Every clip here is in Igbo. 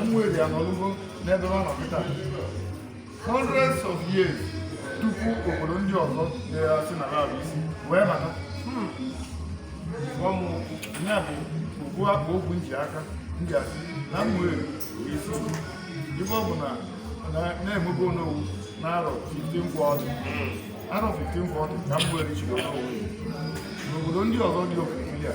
Ụmụeri anọlugo n'ebe ọ nọ kịta hundreds of years tupu obodo ndị ọzọ na-asị na ha bụ isi wee bata ọmụ ya bụ okwu akpa okwu nji aka ndị asị na mmụọ bụ isi ife ọ bụ na na-emebe onowu na arọ 1540 arọ 1540 ka ụmụeri chiri onowu n'obodo ndị ọzọ dị okirikiri a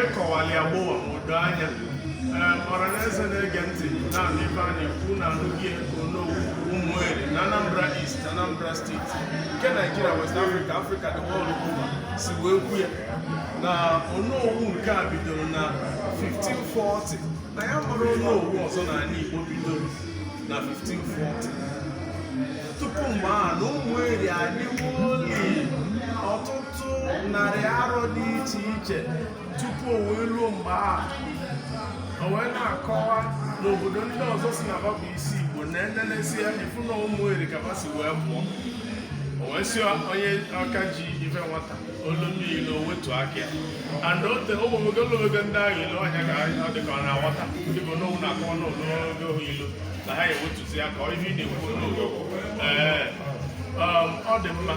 ịkọwali agbụwa ma o doo anya ọranaeze na-ege ntị na-anụ ife a na-ekwu na anụghị onowu ụmụeri na anambra east anambra steeti nke naijiria west africa africa the world over si wee kwu ya na onowu nke a bidoro na 1540 na ya amarọ onowu ọzọ n'ala igbo bidoro na 1540 tupu mgbe a na ụmụeri adịwo ọtụtụ narị arọ dị iche iche tupu o wee ruo mgbe a o wee na-akọwa n'obodo ndị ọzọ sị na ba bụ isi igbo na enenesi ya ifu na ụmụeri ka ha si wee pụọ o wee sị onye aka ji ife nwata olu mmiri na o wetu aka ya and ote ụmụnwoke olomego ndị ahụ ilu ọhịa ka ọ dị ka ọ na-aghọta dịka onowu na-akọwa n'olu oge ohu ilu na ha ewetuzia aka ihe ị na-ekwu n'ụlọ um, ọ dị mma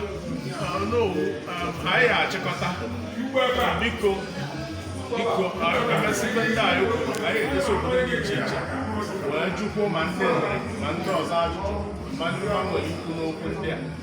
um, um, anyị achịkọta biko biko anyị ga-emesị ndị anyị anyị edosi obodo dị iche iche wee jụkwuo ma ndị ma ndị ọzọ ajụjụ ma ndị ha nwere ikwu n'okwu ndị a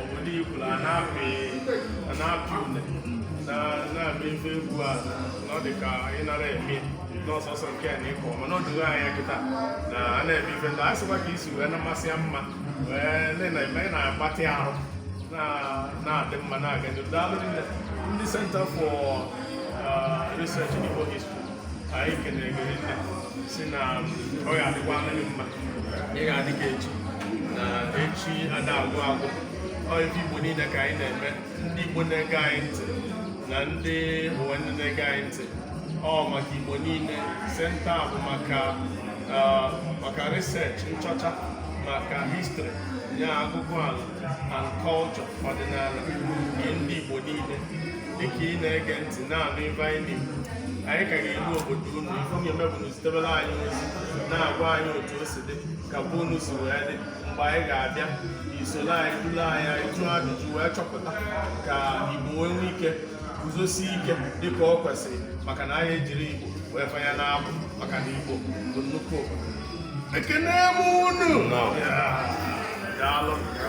obodo ikwuru a na-apị a na-apị une na- na-apị ife egwu a na ọ dị ka ị nara eme n'ọsọsọ nke a na ịkọ mana ọ dịghị anya kịta na a na-eme ife ndị a sịkwa ka isi wee na-amasị ya mma wee ndị na-eme ị na-agbatị ahụ na- na-adị mma na-aga n'ihu. daalụ rinne ndị Center for uh, Research in Igbo History anyị kenere gị rinne sị na ọ ga-adịkwara gị mma ị ga-adị ka echi na echi ada agwụ agwụ ọ ife igbo niile ka anyị na-eme ndị igbo na-ege anyị ntị na ndị ụwa niile na-ege anyị ntị ọ maka igbo niile senta a bụ maka ah, maka research nchọcha maka history ya agụgụ ala and culture ọdịnala nke ndị igbo niile dịka ị na-ege ntị na-anụ ife anyị na-ekwu anyị ka ga-eru obodo unu ife unu ga-eme bụ zitebere anyị ozi na-agwa anyị otu o si dị ka be unu si wee dị mgbe anyị ga-abịa i soro anyị duru anyị anyị jụọ ajụjụ wee chọpụta ka igbo wee nwee ike guzosie ike dịka ọ kwesịrị maka na anyị ejiri igbo wee fanye n'abụ maka na igbo bụ nnukwu obodo ekene m unu daalụ